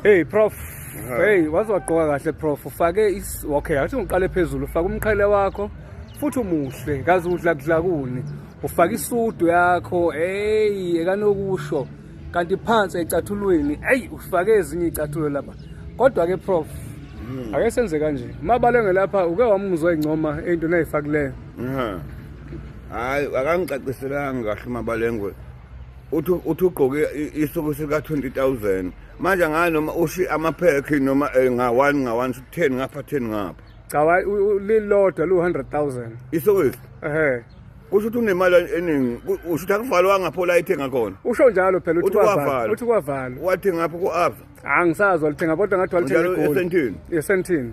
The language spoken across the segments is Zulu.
Hey prof hey waze wagqoka kahle prof ufake is okay athi ngiqale phezulu ufaka umqhele wakho futhi umuhle kazi udla kudlakuni ufaka isudu yakho hey ekanokusho kanti phansi ecathulweni hey ufake ezinye icathulo lapha kodwa ke prof hmm. ake senze kanje mabale ngelapha uke wamuzwa ingcoma into nayifakileyo hayi akangicaciselanga kahle mabalengwe uthi uthi ugqoke isuku sika 20000 manje ngayo noma ushi amaphekhi noma eh, nga 1 nga 1 10 ngapha 10 ngapha cha lilodwa lu 100000 isuku ehe kusho ukuthi unemali eningi usho ukuthi akuvalwanga pho la ithenga khona usho njalo phela uthi kwavala uthi kwavala wathi ngapha ku-ava angisazwa lithenga kodwa ngathi walithenga esentini esentini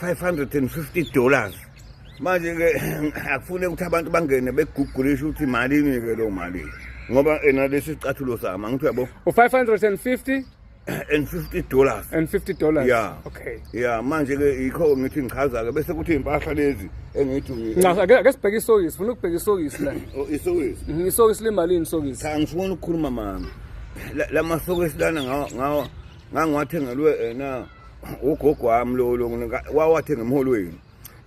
550 dollars manje-ke akufune ukuthi abantu bangene begugulishe ukuthi malini-ke loo mali ngoba ena lesi sicathulo sami angithi uyabo u-550 and 50 dollars and 50 dollars yeah okay yeah manje ke yikho ngithi ngichaza ke bese kuthi impahla lezi engithi nca ake ake sibheke isokisi funa ukubheka isokisi la oh, isokisi mhm, isokisi limalini isokisi cha ngifuna ukukhuluma mama lama sokisi lana ngawa ngawa ngangwathengelwe ena eh, ugogo wami lo lo wawathe ngemholweni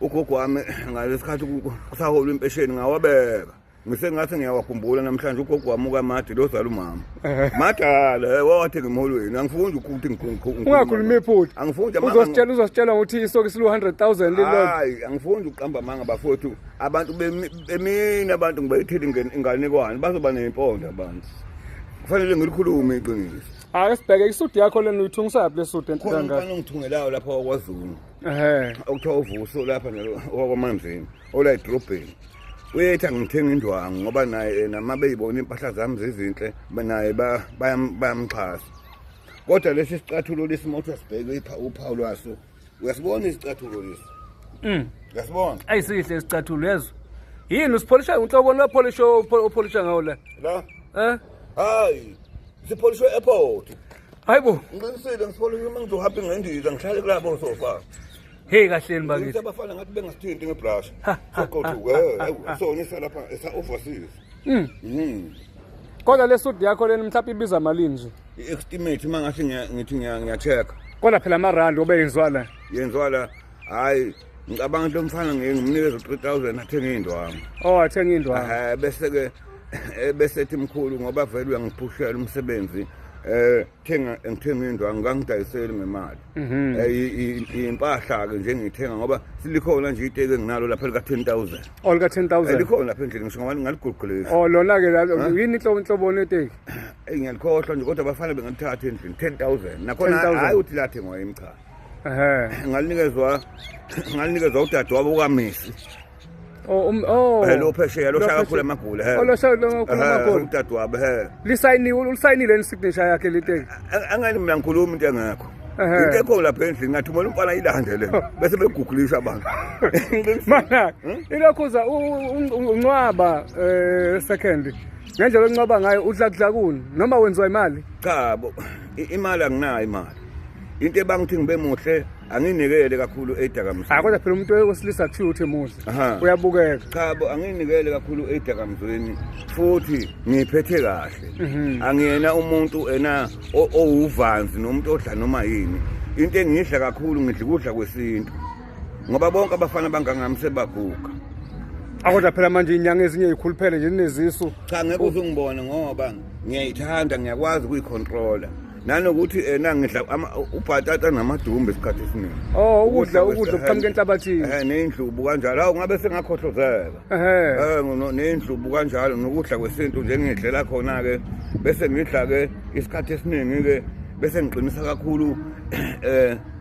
ugogo wami ngalesikhathi kusaholwa impesheni ngawabeka ngisengathi ngiyawakhumbula namhlanje ugogo wami ukamade lo zala umama madala eh, wawathi ngimholweni angifundi ukuthi ungakhuluma iphutha angifundi uzositshela uzositshela ukuthi isoke silu 100000 lilodwa hayi angifundi ukuqamba amanga bafowethu abantu bemina abantu ngibayithile inganekwane bazoba nempondo abantu kufanele ngilikhulume iqiniso Hayi sibheke isudu yakho lena uyithungisa yaphi lesudu enhle khona kangaka. umfana ongithungelayo lapha wakwazulu Ehhe. okuthiwa uvuso lapha wakwamanzini ola edrobheni uyethi angithenga indwangu ngoba naye yena uma beyibona iy'mpahla zami zizinhle ba- naye ba- bayam- bayamxhasa kodwa lesi sicathulo lesi uma uthi asibheke ipha- uphawu lwaso uyasibona isicathulo lesi mm. uyasibona ayi sihle isicathulo yezwa yini usipholisha unhlobo lopholisha opholisha ngawo la la eh hayi sipholishwe airport hayi bo ngiqinisile ngipholishe uma ngizohamba ngendiza ngihlale kulabo sofa Hey kahleni bakithi. Abafana ngathi bengasithinti ngebrush. Soqothuke. Eh, so ngisa lapha esa overseas. Mm. Mm. Kodwa le suit yakho leni mhlawumbe ibiza malini nje? I-estimate uma ngase ngithi ngiya-check-a kodwa phela amarandi obe yenziwa la yenziwa la hhayi ngicabanga ukuthi lomfana ngeke ngimnikeze u-three thousand athenge iy'ndwangu o oh, athenge iy'ndwangu um eh, bese-ke eh, besethi mkhulu ngoba vele uyangiphushela umsebenzi um thenga ngithenga iy'ndwangu ngangidayiseli ngemali um mhm. yimpahla-ke nje ngiyithenga ngoba silikhona nje iteki enginalo lapha elika-ten thousand olika-ten oh, thousand likhona lapha endlini ngisho ngoba ngingaliguqulisa o oh, lona-ke yini inhloboni yeteki eyi ngiyalikhohlwa nje kodwa bafana bengathatha endlini ten thousand nakhona 10,000. hhayi ukuthi lathengwa yimi cha ehe ngalinikezwa ngalinikezwa udade wabo ukamisi oh um- oh Eh, lo phesheya lo Lo shaya kakhulu phesheya. amagula he Oh, lo shaya kakhulu Ehhe, amagula. udade wabo he lisayiniwe ulisayinile ni signature yakhe liteki Ang- angani mina ngikhuluma into engekho Ehhe. into ekho lapha endlini ngathumela umfana ilande le bese begugulisha abantu mana ilokhuza uncwaba eh second ngendlela oncoba ngayo udlakudlakuni noma wenziwa imali cha bo imali anginayo imali into ebangithi ngibe muhle anginikele kakhulu edakamizweni ah kodwa phela umuntu wesilisa kuthiwa ukuthi muhle uyabukeka cha bo anginikele kakhulu edakamizweni futhi ngiphethe kahle mhm. angiyena umuntu ena owuvanzi nomuntu odla noma yini into engidla kakhulu ngidla ukudla kwesintu ngoba bonke abafana bangangami sebaguga akodwa phela manje inyanga ezinye yikhuluphele nje ninezisu cha ngeke uze ungibone ngoba ngiyayithanda ngiyakwazi ukuyicontrola nanokuthi ena ngidla ubhatata namadumbe isikhathi esiningi oh ukudla ukudla kuqhamuka enhlabathini eh nendlubu kanjalo awu ngabe sengakhohlozeka eh nendlubu kanjalo nokudla kwesintu njengidlela khona ke bese ngidla ke isikhathi esiningi ke bese ngiqinisa kakhulu eh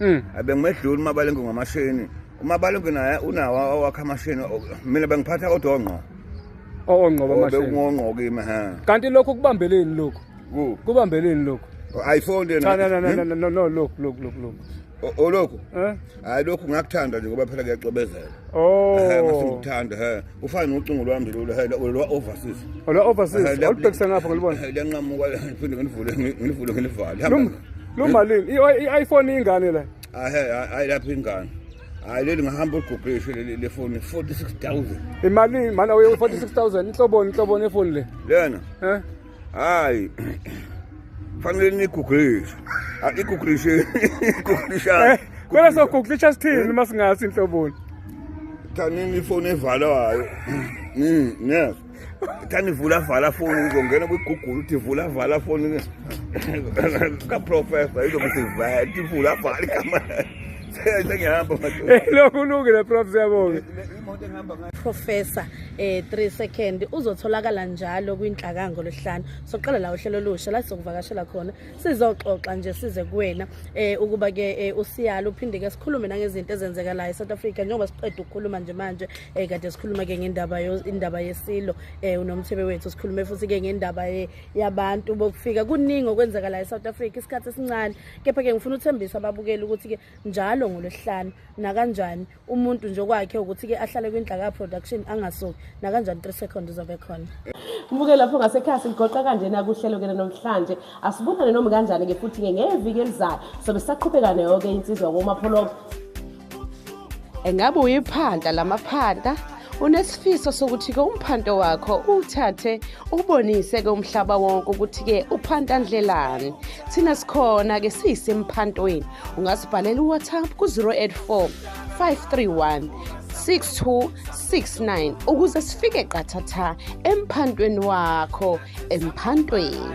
mm. abengimedluli umabalengwe ngamashini umabalengwe naye unawo awakhe amashini mina bengiphatha kodwa ongqo ongqo bamashini bekungongqo kimi ha kanti lokho kubambeleni lokho kubambeleni lokho ayifonde oh, na no no no no no look look look look olokhu eh? hayi lokhu ngakuthanda nje ngoba phela kuyacobezela oh ngasingithanda he ufana nocingo lwami lolu he lwa overseas olwa overseas olubhekisa ngapha ngilibona liyanqamuka phinde ngilivule ngilivule ngilivale Lumalini i-iPhone ingane la. Hayi lapha ingane. hayi leli ngahamba olugubhisho le foni 46000 imali mana uye 46000 inhloboni inhloboni efoni le lena eh hayi fanele niguglishe iguglishe iguglisha eh, kwela soguglisha sithini uma singathi inhloboni thanini ifoni evalayo mm yes thani vula vala foni uzongena kwigugula uthi vula vala foni kaprofesa izokuthi vati vula vala igama sengihamba lokhu ulungile prof siyabonga professor eh 3 second uzotholakala njalo kwinhlakango losihlanu soqala la uhlelo olusha la sizokuvakashela khona sizoxoxa nje size kuwena eh ukuba ke eh, usiyalo uphinde ke sikhulume nangezinto ezenzeka la eSouth Africa njengoba siqeda ukukhuluma nje manje eh kade sikhuluma ke ngendaba indaba yesilo eh unomthebe wethu sikhulume futhi ke ngendaba yabantu bokufika kuningi okwenzeka la eSouth Africa isikhathi esincane kepha ke ngifuna uthembisa ababukeli ukuthi ke njalo ngolwesihlanu nakanjani umuntu nje okwakhe ukuthi-ke ahlale kwindla ka-production angasoki nakanjani three second uzobe khona mbuke lapho ngasekhaya siligoqa kanjena kuhlelo kena namhlanje asibonane noma kanjani-ke futhi-ke ngeviki elizayo sobe sisaqhubeka nayo-ke insizwa komapholobo engabe uyiphanda lamaphanda unesifiso sokuthi-ke umphanto wakho uwuthathe ubonise-ke umhlaba wonke ukuthi-ke uphanta ndlelani thina sikhona-ke siyisemphantoweni ungasibhalela uwhatsapp ku-084 531 6269 ukuze sifike qathatha emphantweni wakho emphantweni